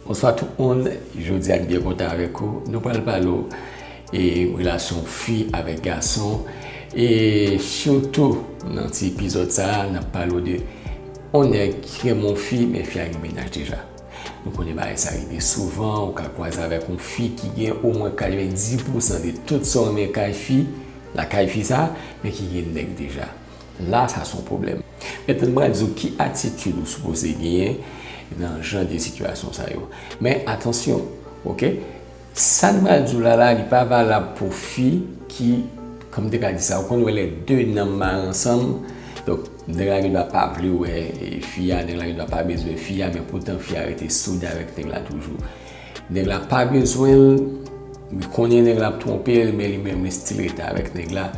Bonswa tout moun, jodia n byen kontan avèk ou, nou pral pale w e relasyon fi avèk gason e sitou nan ti epizòd sa nap pale w de on nèg ki renmen on fi men fi a gen mennaj deja nou konnen bagay sa rive souvan ou ka kwaze avèk on fi ki gen omwen 90 pousan de tout sa w renmen kay fi lakay fi sa men ki gen nèg deja. La sa son pwoblèm. Mètnan m pral di w ki atitid ou sipoze genyen nan jan de sitiyasyon sa yo. Men atansyon ok, sa m pral di w la la li pa valab pou fi ki, kòm m te ka di sa, ou konn wè lè 2 nanm mare ansanm, donk nèg la gendwa pa vle wè fi a, nèg la gendwa pa bezwen fi a men poutan fi a rete soude avèk nèg la toujou. Nèg la pa bezwen l, li konnen nèg la ap twonpe l men li menm li stil rete avèk nèg la.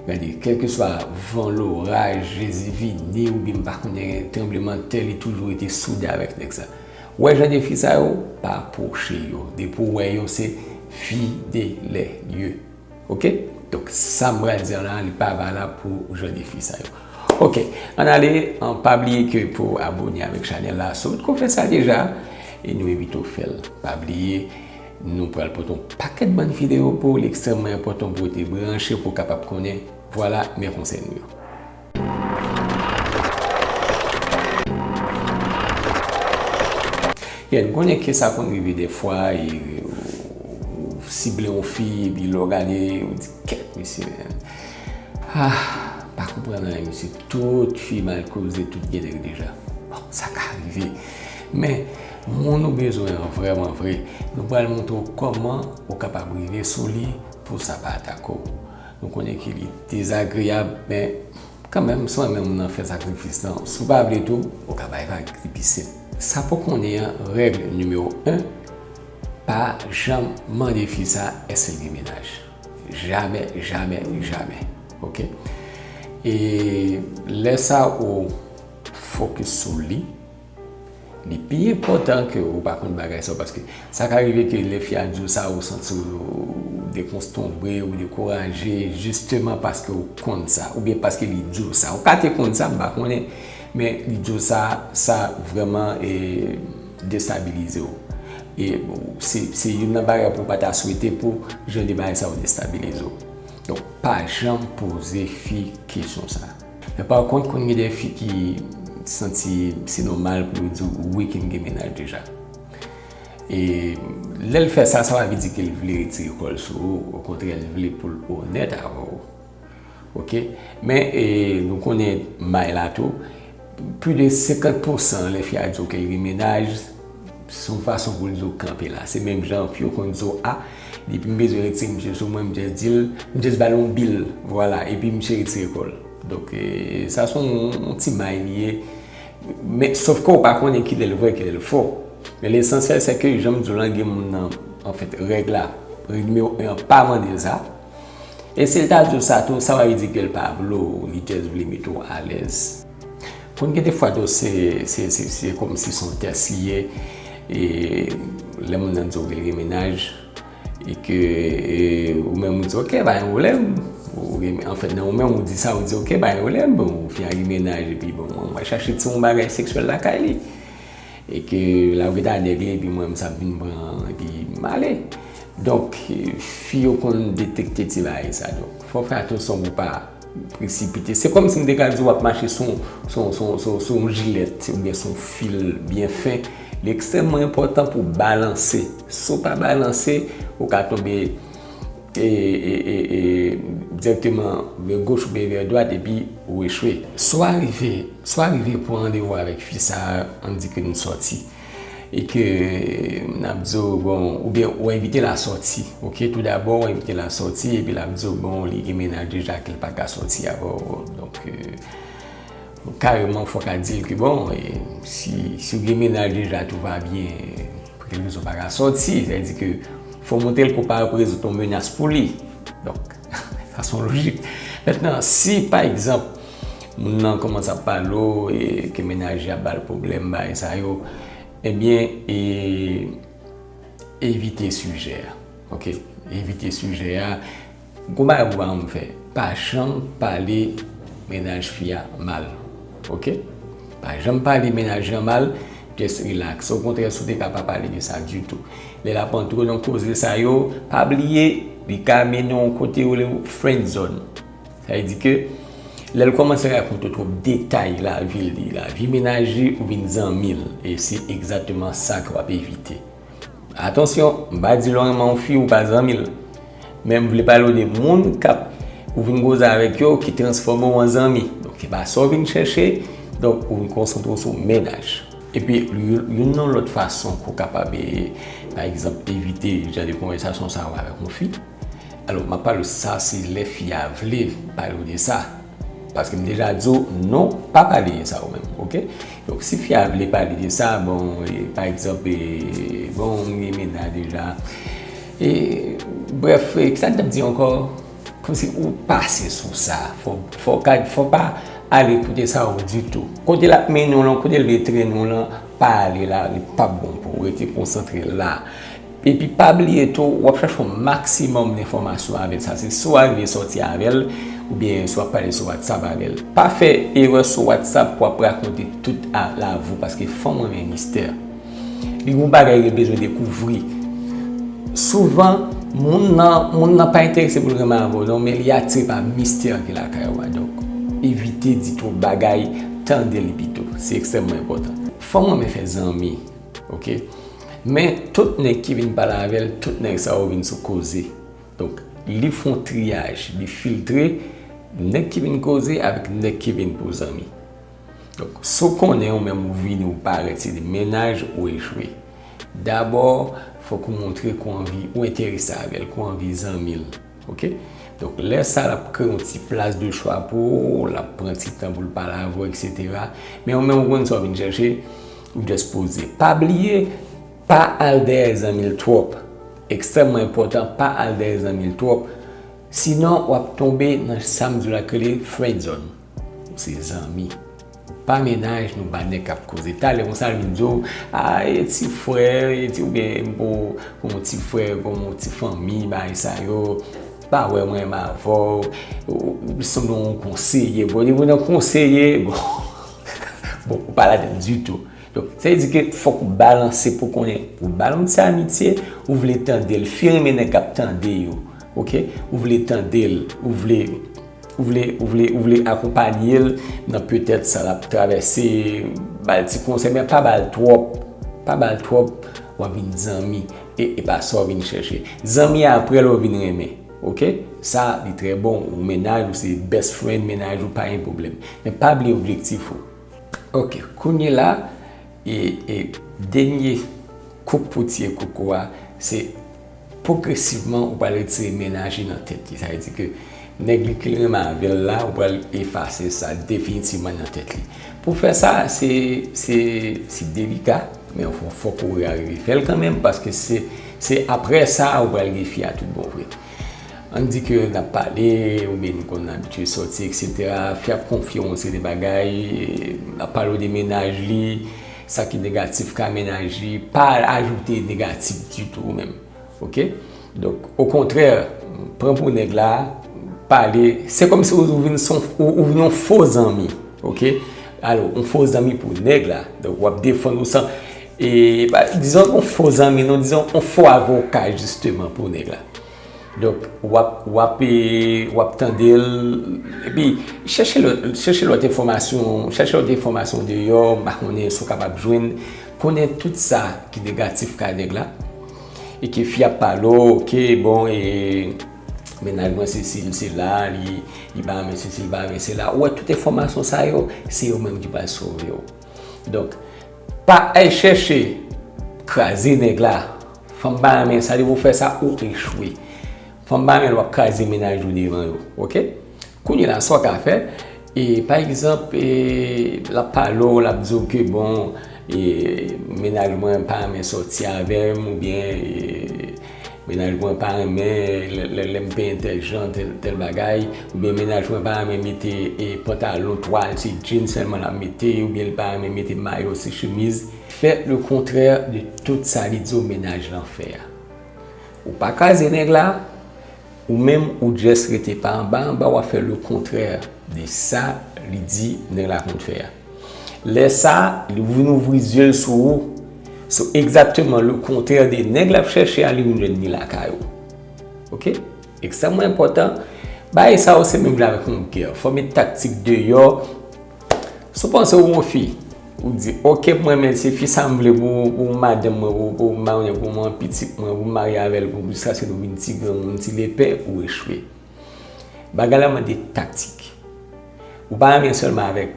Gade, kèlkeswa van, loraj, Jezi vini oubyen m pa konnen tranblemanntè li toujou rete soude avèk nèg sa. Wè jan de fi sa yo, pa pwoche yo. Depi w wè yo se fidele yo. Ok donk sa m pral dir la li pa valab pou jan de fi sa yo ok ann ale an pa bliye ke pou abone avek chanel la si w potko fè sa deja e nou envite w fè l pa bliye nou pral pote yon pakèt bann video pou w li ekstrèmman enpòtan pou w rete branche pou w kapab konnen vwala men konsèy nou yo. Yeah nou konnen ke sa konn rive defwa e ou sible yon fi e pi lè w gade ou di kèt mesye ah pa konprann anyen mesye tout fi mal koze tout gen nèg deja bon sa ka rive men moun ou bezwen an vreman vre nou pral montre w koman ou kapab rive sou li pou sa pa atake w. Nou konnen ke li dezagreyab, men kanmenm si w renmen moun nan fè sakrifis lan. Si w pa vle tou, ou ka bay vag, li pi senp. Sa pou konnen an, règ nimewo 1, pa janm mande fi sa èske l gen mennaj. Jamè, jamè, jamè. Ok? E lè sa ou fokis sou li. Li pi enpòtan ke ou pa konn bagay sa yo paske sa ka rive ke lè fi a di w sa ou santi w dekonstonbre, ou dekouraje jisteman paske ou konn sa oubyen paske li di w sa. Ou ka te konn sa, m pa konnen, men li di w sa, sa vrèman destabilize w. E se youn nan bagay pou w pa ta swete pou jan de bagay sa yo destabilize w. Donk pa janm poze fi kesyon sa. Men pa kont konn gen de fi ki santi se nòmal pou yo di w wi ki m gen mennaj deja. E lè l fè sa, sa pa vle di ke l vle retire kò l sou ou, okontrè l vle pou l onèt avè w. Ok, men e nou konnen may la tou, pli de 50 pousan lè fi a di w ke l gen mennaj, Se yon fason pou l di w kanpe la. Se menm jan anpi yo konn di w a, depi m bezwen retire misye sou mwen, m jès di l, m jès ba l yon bil, vwala, epi misye retire kò l. Donk, sa se yon ti may li ye. Men, sof ke w pa konnen ki lè l vrè, ki lè l fo. Men lesansyèl se ke, jan m di w lan, gen moun nan, anfèt, règ la, règ nimewo 1 an pa mande l sa. E si l ta di w sa tou, sa pa vle di ke l pa vle w, li jès vle mete w alèz. Konn gen de fwa tou se se se se kòm si son tès li ye e lè moun nan di w gen menaj e ke ou menm ou di ok pa gen pwoblèm ou gen an fèt nan ou menm ou di sa ou di ok pa gen pwoblèm bon fi a gen menaj epi bon mwen mwen chache ti yon bagay seksyèl lakay li e ke la ou geta nèg li epi mwen menm sa m vin pran epi m ale donk fi yo konn detekte ti bagay sa donk fò w fè atansyon pou w pa Presipite. Se kòm si m te ka di w ap mache sou yon jilèt oubyen sou yon fil byen fen. Li ekstrèmman enpòtan pou w balanse. Si w pa balanse, ou ka tonbe dirèkteman vè goch oubyen vè dwat epi ou echwe. Si w arive pou randevou avèk fi sa a, an n di ke nou sòti. E ke m ap di w, bon, oubyen ou envite l a sòti. Ok, tou dabò ou envite l a sòti, epi l ap di w, bon, li gen mennaj deja ke l pa ka sòti avè w. Donk, kareman fò w ka di l ke, bon, si w gen mennaj deja, tou va byen, pou kèk rezon ou pa ka sòti. Sa vle di ke fò w montre l ke w pa reprezante yon menas pou li. Donk. Fason lojik. Mètnan, si pa egzanp, moun nan kòmanse ap pale w e ke mennaj li ap ba l pwoblèm, bagay sa yo, ebyen, e, evite sijè a. Ok? Evite sijè a. Gon bagay pou w pa janm fè. Pa janm pale mennaj fi a mal. Ok? Pa janm pale mennaj lan mal, just relax. Okontrè si w te ka pa pale de sa ditou. Lè l ap antre w nan koze sa yo, pa bliye li ka mennen w yon kote yo rele frenzòn. Sa vle di ke lè l kòmanse rakonte w twòp detay lavi li, lavi mennaj li, ou vin zanmi l. E se egzakteman sa ke w ap evite. Atansyon, m pa di lè w renmen yon fi ou pa zanmi l. Men m vle pale w de moun kap ou vin koze avèk yo ki transfòme w an zanmi. Donk e pa sa w vin chèche, donk ou vin konsantre w sou mennaj. Epi youn nan lòt fason pou w kapab pa egzanp evite jan de konvèsasyon sa yo avèk yon fi, alò m ap pale w sa se lè fi a vle pale w de sa. Paske m deja di w non pa pale de sa ou menm ok. Donk si fi a vle pale de sa bon pa egzanp bon m gen mennaj deja e brèf kisa m tap di ankò kòmsi ou pase sou sa fò pa ale kote sa ou ditou. Kote l ap mennen w lan kote l vle trennen w lan pa ale la li pap bon pou ou rete konsantre la. Epi pa bliye tou wap chache yon maksimòm lenfòmasyon avèl sa se swa vin sòti avèl oubyen swa pale sou whatsapp avèl pa fè erè sou whatsapp pou wap rakonte tout a la vou paske fanm renmen mistè li gon bagay li bezwen dekouvri souvan moun nan moun nan pa enterese poul renmen avèw non men li atire pa mistè ki lakay ou a donk evite di twòp bagay tandel pito se ekstrèmman enpòtan. Fanm renmen fè zanmi Ok Men tout nèg ki vin pale avè l, tout nèg sa yo vin sou koze. Donk, li fon triyaj, li filtre nèg ki vin koze avèk nèg ki vin pou zanmi. Donk, si w konnen ou menm ou vini ou parèt se de mennaj ou echwe. Dabò, fòk ou montre ke w anvi, ou enterese avè l, ke w anvi zanmi l. Ok? Donk, lè sa l ap kreye yon ti plas de chwa pou ou, l ap pran ti tan pou l pale avè w, eksetera. Men ou menm ou konn sa w vin chèche, Ou just poze. Pa bliye pa al dèyè zanmi l twòp. Ekstrèmman enpòtan pa al dèyè zanmi l twòp. Sinon w ap tonbe nan sa m di w la ki rele friendzone. Ou se zanmi. Ou pa mennaj nou ba nèg k ap koze. Talè konsa l vin di w a e ti frè e ti oubyen pou pou m ti frè pou m ti fanmi bagay sa yo. Ou pa wè mwen menm avè w. Ou sanble w konseye. Bon depi w nan konseye bon. Bon, ou pa ladann ditou. Donk, sa vle di ke fòk ou balanse pou konnen ou ba moun sa amitye, ou vle tande l, fi renmen nèg k ap tande yo. Ok? Ou vle tande l, ou vle, ou vle, ou vle, ou vle akonpanye l nan petèt sa l ap travèse, ba l ti konsèy men pa ba l twòp, pa ba l twòp, w ap vin zanmi e e pa sa w vin chèche. Zanmi aprè lè w vin renmen. Ok sa li trè bon ou mennaj ou se best friend mennaj ou pa gen pwoblèm men pa bliye objektif ou ok kounye la e dènye kout poutye koko a se pwogresivman ou pral retire mennaj li nan tèt li sa vle di ke nèg li ke li renmen avèl la ou pral efase sa definitivman nan tèt li. Pou fè sa se se se delika men anfwa fòk ou arive fè l kanmenm paske se se aprè sa ou pral gen fi a tout bon vre. Ann di ke n ap pale oubyen nou konn abitye sòti eksetera, fi a ap konfye w yon seri de bagay, l ap pale w de mennaj li, sa ki negatif ka mennaj li, pa ajoute negatif ditou ou menm. Ok donk okontrè pran pou nèg la pale se kòm si ou vin son ou vin yon fo zanmi ok alò yon fo zanmi pou nèg la donk wap defann ou san e pa dizon yon fo zanmi non dizon yon fo avoka jisteman pou nèg la donk wap wap e wap tande l epi chèche lòt chèche lòt enfòmasyon chèche lòt enfòmasyon deyò m pa konnen si w kapab jwenn Konnen tout sa ki negatif kay nèg la e ke fi ap pale w ke bon e mennaj mwen sesi li sela li pa renmen sesi li pa renmen sela ou wè tout enfòmasyon sa yo se yo menm ki pral sove w donk pa al chèche kraze nèg la fanm pa renmen sa lè ou fè sa ou echwe fanm pa renmen lè wap kraze mennaj ou devan yo ok. Kounye la, sa w ka fè, e pa egzanp, e l ap pale w, l ap di w ke bon, e mennaj mwen pa renmen sòti avè m, oubyen e mennaj mwen pa renmen lè lè m penyen tèl jan, tèl bagay, oubyen mennaj mwen pa renmen mete e pantalon twal, se djin sèlman l ap mete, oubyen l pa renmen mete mayo, se chemiz. Fè le kontrè de tout sa li di w mennaj lan fè a. Ou pa kraze nèg la. Ou menm ou just rete pa anba anba wap fè le contraire de sa li di nèg la konn fè a. Lè sa li vin ouvri zye l sou ou so exactement le contraire de nèg lap chèche a li vin jwenn ni lakay ou. Ok ekstrèmman enpòtan bagay sa yo se menm jan avèk yon gè fòme taktik deyò. Si w panse ou yon fi, ou di, ok m renmen, se fi sa m vle pou madanm mwen, pou m marye avèl, pou m gen pitit mwen, pou m marye avèl, pou jiska se nou vin ti granmoun, ti lepè, ou echwe. Bagay la mande taktik. Ou pa renmen sèlman avèk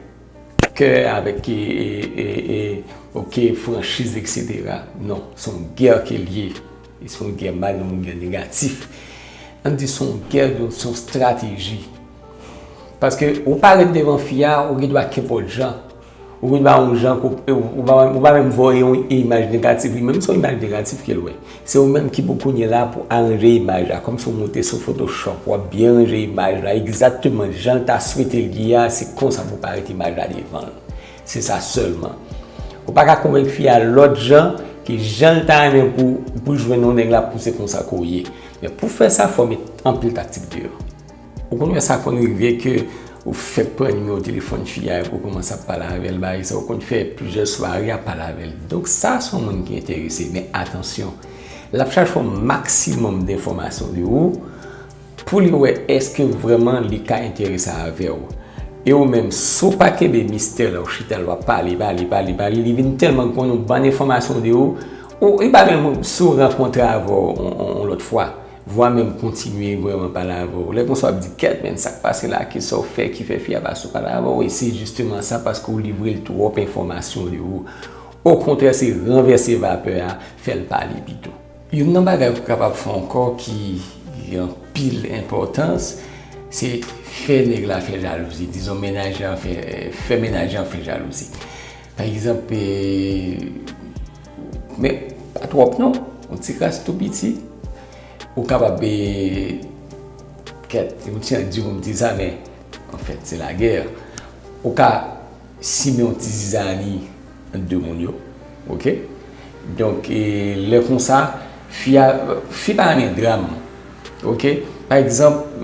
kè, avèk ok, franchiz, eksetera. Non, se yon gè ke l ye. Se yon gè mal nan yon gè negatif. An di se yon gè de se yon strateji. Paske ou parèt devan fi a, ou gen dwa kenpòt jan. Ou gen dwa yon jan ko e ou pa menm ou pa menm voye yon imaj negatif. Li menm se yon imaj negatif ke l wè. Se ou menm ki pou kounye la pou aranje imaj la. Kòmsi ou monte sou photoshop, w ap byen ranje imaj la egzakteman jan l ta swete l ye a, se konsa pou parèt imaj la devan l. Se sa selman. Ou pa ka konvenk fi a lot jan ke jan l ta renmen pou pou l jwenn yon nèg la pou se konsa ke w ye. Men pou fè sa fò w met anpil taktik deyò. Ou konn wè sa konn rive ke ou fèk pran nimewo telefòn fi a epi w koumanse ap pale avè l bagay sa. Ou konn fè plizyè sware ap pale avè l. Donk sa se yon moun ki enterese men atansyon. L ap chache yon maksimòm denfòmasyon de ou. Pou li wè eske vrèman li ka enterese avè w. E ou menm, si w pa kenbe mistè lè w chita l w ap pale, pale, pale, pale, li vin tèlman konnen yon bann enfòmasyon de ou, ou, li pa menm si w rankontre avè w yon lòt fwa, vwa menm kontinye vrèman pale avè w. Lè konsa w ap di, kèt menn, sa k pase la? Ki sa w fè ki fè fi a pa sou pale avè w? E se jisteman sa, paske w livre l twòp enfòmasyon de ou. Okontrè, se ranvèse vapè a, fè l pale pito. Youn nan bagay ou kapab fè ankò ki gen anpil enpòtans, se fè nèg la fè jalouzi. Dizon menajè an fè, fè menajè an fè jalouzi. Pa egzanp, men pa twòp non, yon ti kras tou piti, ou kapab kèt yon ti andi pou m di sa men anfèt se lagè. Ou ka simen yon ti zizani. 2 moun yo ok donk lè konsa fi a fi pa renmen dram ok pa egzanp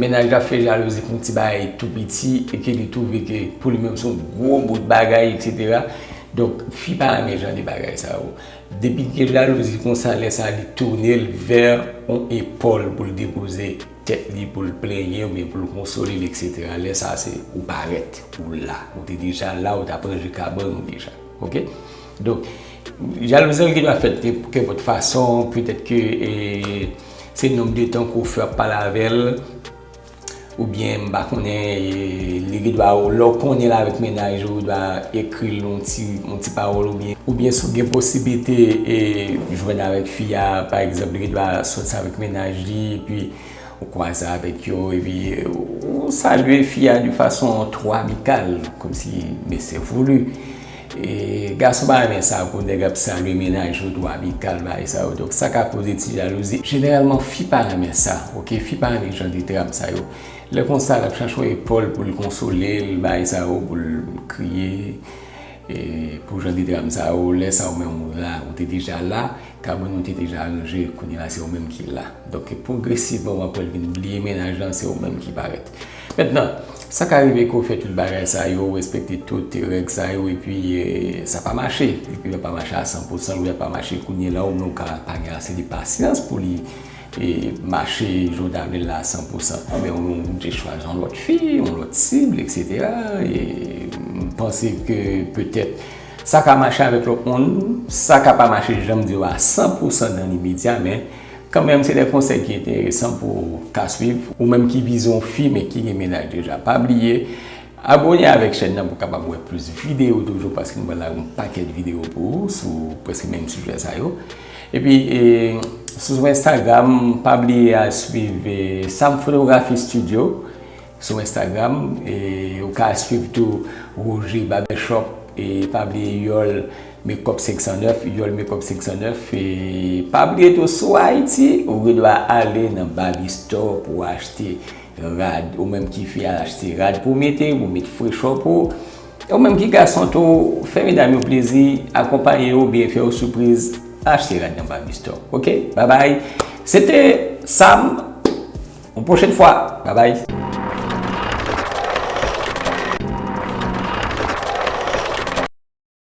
mennaj la fè jalouzi pou yon ti bagay tou piti e ke li twouve ke pou li menm se yon gwo bout bagay eksetera donk fi pa renmen jan de bagay sa yo depi gen jalouzi konsa lè sa li tounel vè yon epòl pou l depoze. Tèt li pou l plenyen oubyen pou l konsole l eksetera lè sa se ou parèt ou la ou te deja la ou t ap ranje kabann ou deja ok donk jalouzi ki ta fèt gen kenpòt fason petèt ke se nonb de tan ke w fè ap pale avè l oubyen m pa konnen li gen dwa ou lè w konnen l avèk mennaj ou ta ekri l yon ti yon ti pawòl oubyen oubyen si w gen posiblite jwenn avèk fi a pa egzanp li gen dwa sòt sa avèk mennaj Li epi ou kwaze avèk yo epi ou salye fi a de fason twò amikal kòm si men se voulu. E gason pa renmen sa pou nèg ap salye mennaj yo twò amikal bagay sa yo donk sa ka koze ti jalouzi. Jeneralman fi pa renmen sa ok fi pa renmen jan de dram sa yo lè konsa l ap chache yon epòl pou l konsole l bagay sa yo pou l kriye e pou jan de dram sa yo lè sa ou menm ou la ou te deja la. Cameron nou te deja aranje kounye la se ou menm ki la donk pwogresivman wap wèl vin bliye mennaj lan se ou menm ki parèt mentnan sa ka rive ke w fè tout bagay sa yo ou respekte tout règ sa yo epi sa pa mache epi lè pa mache a san pou san lè pa mache kounye la ou menm ou ka pa gen ase de pasyans pou li mache jan w ta vle l la a san pou san anben ou oblije chwazi yon lòt fi yon lòt sibl eksetera e m panse ke petèt Sa ka mache avèk lòt moun, sa ka pa mache janm di w a 100 pou 100 nan limedya men kanmenm se de konsèy ki enteresan pou w ka swiv ou menm ki vize yon fi men ki gen mennaj deja. Pa bliye abone avèk chèn nan pou w kapab wè plis videyo toujou paske m pral lage yon pakèt videyo pou ou sou prèske menm sijè sa yo. Epi sou enstagram pa bliye al swiv Sam Fotografi Studio. Sou Instagram, ou ka swiv tou Roger Barbershop e pa bliye Yol Makeup 509, Yol Makeup 509 e pa bliye tou si w Ayiti ou gen dwa ale nan Barbie Store pou w achte rad, ou menm ki fi al achte rad pou w mete, pou w met frechò pou w e ou menm ki gason tou fè medam yo plezi, akonpaye yo oubyen fè yo sipriz achte rad nan Barbie Store ok, babay se te Sam. Yon pwochen fwa. Babay.